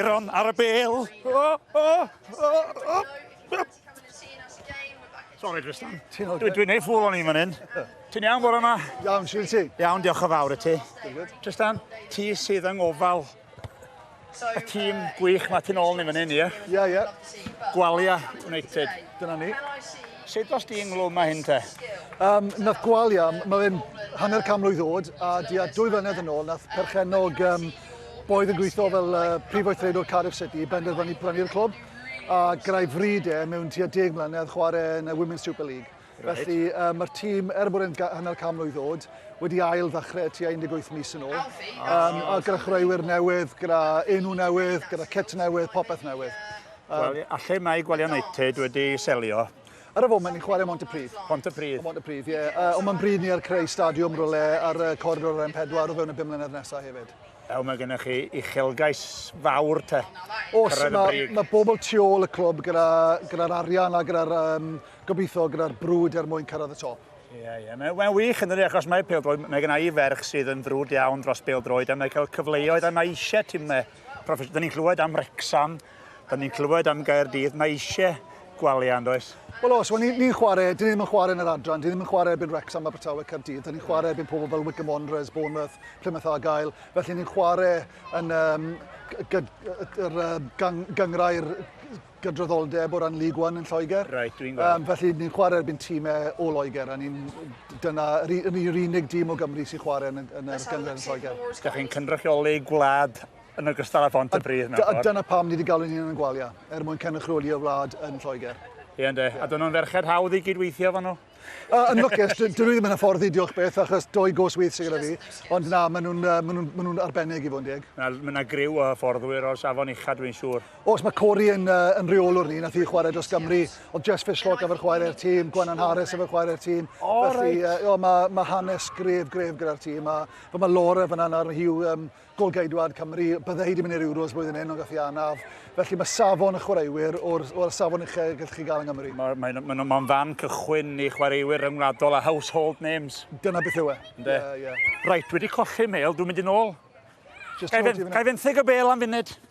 Aaron ar y bel. Oh, oh, oh, oh. Sorry, Tristan. Dwi'n dwi neud ffwl o'n i'n fan hyn. Ti'n iawn bore yma? Iawn, siw ti. Iawn, diolch o fawr i ti. Tristan, ti sydd yng ngofal y tîm gwych mae ti'n ôl ni fan hyn, ie? Ie, ie. Gwalia United. Dyna ni. Sut os di ynglwm mae hyn te? Um, nath Gwalia, mae fe'n hanner cam mlwydd ddod, a di a dwy flynedd yn ôl, nath perchenog um, Boyd yn gweithio fel uh, prif weithredwr Cardiff City, benderfynu brynu'r clwb, a grau fryd e mewn tua deg mlynedd chwarae yn y Women's Super League. Right. Felly uh, mae'r tîm, er bod e'n hanner can mlynedd ddod, wedi ail ddechrau tua 18 mis yn ôl. Um, a gyda chwaraewyr newydd, gyda enw newydd, gyda cit newydd, popeth newydd. Um, well, a lle mae Gwaliau United wedi selio, Ar y foment ni'n chwarae Montypridd. Montypridd. Montypridd, ie. Yeah. Uh, ond mae'n bryd ni ar creu stadiwm rhywle ar y coridor ar M4 o fewn y bum mlynedd nesaf hefyd. Ew, mae gennych chi uchelgais fawr te. Os, mae ma bobl tu ôl y clwb gyda'r gyda arian a gyda'r um, gobeithio gyda'r brwd er mwyn cyrraedd y top. Ie, yeah, ie. Yeah. Mae'n mae wych yn dydi, achos mae peldroed, mae gennau i ferch sydd yn frwd iawn dros peldroed, a mae cael cyfleoedd, a mae eisiau timau proffesiynol. Dyna ni'n clywed am Rexham, Da ni'n clywed am Gaerdydd, mae eisiau gwaliau, yn does? Wel os, wel ni'n ni chwarae, dyn ni ddim yn chwarae yn yr adran, dyn ni ddim yn chwarae erbyn Wrexham, Abertawe, Caerdydd, dyn ni'n chwarae erbyn pobl fel Wycombe Wanderers, Bournemouth, Plymouth Argyle, felly ni'n chwarae yn um, gyd, yr, um, gang, gyngrau'r gydraddoldeb o ran League One yn Lloegr. Right, dwi'n gweld. Um, felly ni'n chwarae erbyn tîmau o Loegr, a ni'n dyna yr, yr unig dîm o Gymru sy'n chwarae yn, yn yr gyngrau yn Lloegr. Da chi'n cynrychioli gwlad yn ogystal â Phont y Pridd mewn ffordd. A dyna pam ni wedi galw'n hunan yn Gwalia, er mwyn cynrychioli y wlad yn Lloegr. Ie ynde, a dyn nhw'n ferched hawdd i gydweithio efo nhw? Uh, yn lwcus, dyn nhw ddim yn hyfforddi, diolch beth, achos doi gos wyth sy'n gyda fi. Ond na, maen nhw'n ma nhw, ma nhw arbennig i fod yn deg. Mae yna griw o hyfforddwyr o'r safon ucha, dwi'n siŵr. Os mae Cori yn, uh, yn reolwr ni, nath i chwarae dros Gymru, oedd Jess Fishlock efo'r chwarae'r tîm, Gwennan Harris efo'r chwarae'r tîm. O, oh, Felly, right. uh, mae ma hanes gref, gref gyda'r tîm. A, mae Laura fyna nawr, mae hi'w um, Gôl-geidwad Cymru, byddai hi wedi mynd i'r Euros blwyddyn hyn ond gath hi anaf, felly mae safon y chwaraewyr o'r, wel, y safon uchaf y gallwch chi gael yng Nghymru. Mae, mae, mae nhw'n mae'n fan cychwyn i chwaraewyr ryngwladol a household names. Dyna beth yw e. Ynde? Ie, ie. Reit, wedi colli mêl, dwi'n mynd i'n ôl. Just Gai, fe, gai fenthyg y bêl am funud?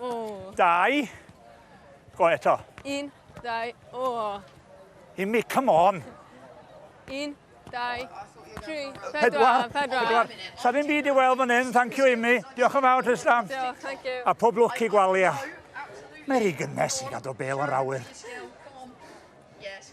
O. Dau. Go eto. Un, dau, o. Imi, come on. Un, dau, tri, pedwar, pedwar. Sa ddim byd i weld fan hyn, thank you Imi. Diolch yn fawr, Tristan. Diolch, thank you. A pob lwc i gwalia. Mae rhi gynnes i gadw bel yn rawyr. Yes.